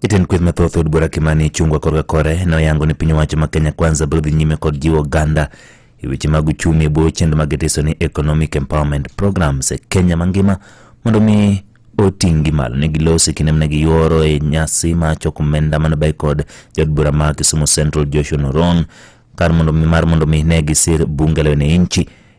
Jatend kweth mathoth od bura Kimani Ichung'wa korka kore ne oyango ni piny owacho ma Kenya Kwanza biro dhi nyime kod jiwo oganda e weche mag uchumi e bwo chenro ma gitiso ni Economic Empowerment Programs e Kenya mangima mondo mi oting'gi malo ne gilosi kinde mane giyuoro e nyasi ma choko omenda mane bay kod jaod bura ma Kisumu Central Joshua Noron kar mondo mi mar mondo mi ne gisir bunge la wananchi